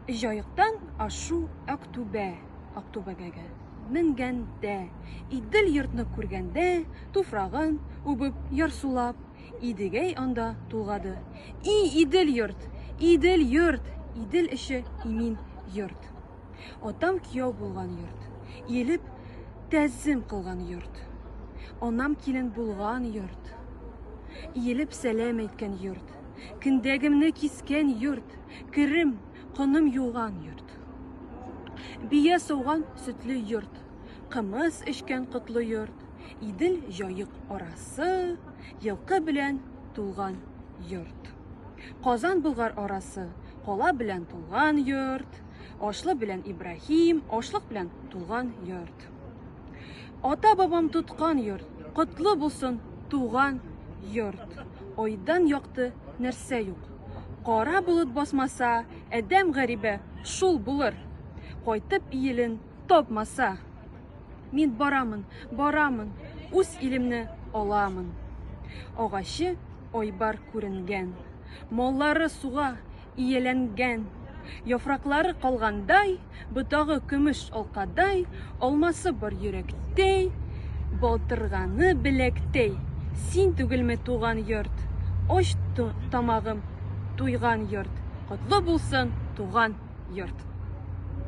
Җаектан ашу Актүбә, Актүбәгәгә менгәндә, Идел йортны күргәндә, туфрагын үбеп, ярсулап, Идегәй анда тулгады. И Идел йорт, Идел йорт, Идел эше имин йорт. Атам кияү булган йорт, иелеп тәзим кылган йорт. Анам килен булган йорт, иелеп сәлам әйткән йорт. Киндегемне кискән йорт, керем, коным юган йорт. Бия сауган сөтле йорт, кымыз эчкән котлы йорт, Идел җаек арасы, елкы белән тулган йорт. Казан Болгар арасы, кала белән тулган йорт, Ашлы белән Ибраһим, ашлык белән тулган йорт. Ата бабам тоткан йорт, котлы булсын туган йорт. Айдан якты нәрсә юк. Кара болыт басмаса, әдәм гәрибе шул булыр. Кайтып иелен тапмаса. Мин барамын, барамын, үз илемне аламын. Агачы айбар күренгән. Маллары суга, Ияләнгән. Яфраклары калгандай, Ботагы көмеш алкадай, Алмасы бар йөрәктәй, Балтырганы беләктәй. Син түгелме туган йорт? Ач тамагым, туйган йорт! Котлы булсын туган йорт!